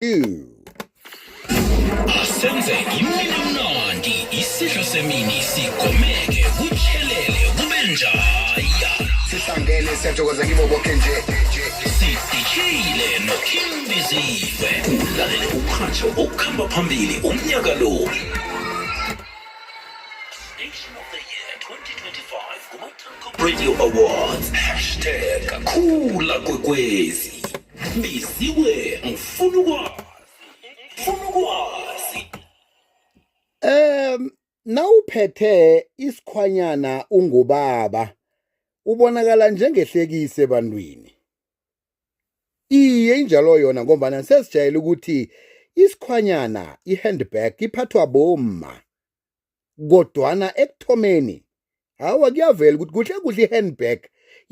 two. asenze imini mnandi isidlo semini sigomeke kutshelele kube njaya sihlangene siyathokoza kibo boke nje sidishile noking biziwe ulalele umhatsho okuhamba phambili umnyaka lo Station of the Year 2025 kuma-Telkom Radio Awards hashtag khula kwekwezi biziwe ngifuna ukwazi ngifuna ukwazi um nawuphethe isikhwanyana ungubaba ubonakala njengehlekise ebantwini iye injalo yona ngombana sesijayele ukuthi isikhwanyana i-handbag iphathwa bomma kodwana ekuthomeni hawa kuyavela ukuthi kuhle kuhle i-handbag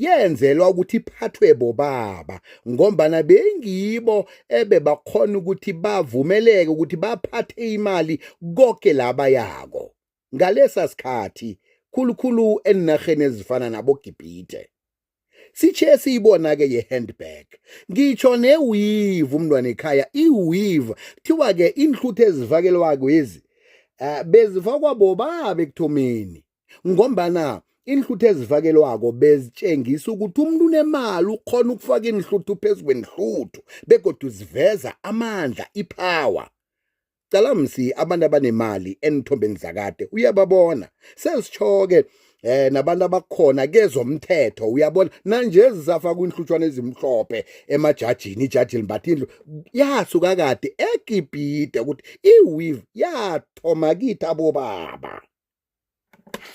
yenzelwa ukuthi iphathwe bobaba ngombana bengibo ebebakhona ukuthi bavumeleke ukuthi baphathe imali konke laba yako ngalesa sikhathi khulukhulu enarheni ezifana nabogibhide sithe siyibona-ke ye-handbag ngitsho newivu umntwana ekhaya iwivu kuthiwa-ke iinhluthu ezifakelwako ezi um eh, bezifakwa bobabe ekuthomeni ngombana iinhluthu ezifakelwako bezitshengisa ukuthi umuntu unemali ukhona ukufaka iinhluthu phezu kwenhluthu begodwa uziveza amandla iphawa cala msi abantu abanemali enithombeni zakade uyababona sesitsho-ke eh nabantu abakhona kezomthetho uyabona nanje zisafa kwinhlutshwana ezimhlophe emajajini ijaji limbatha indlu yasuka kade egibhide ukuthi iweave yathoma kithi abobaba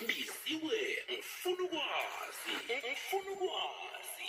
biziwe ngifuna ukwazi ngifuna ukwazi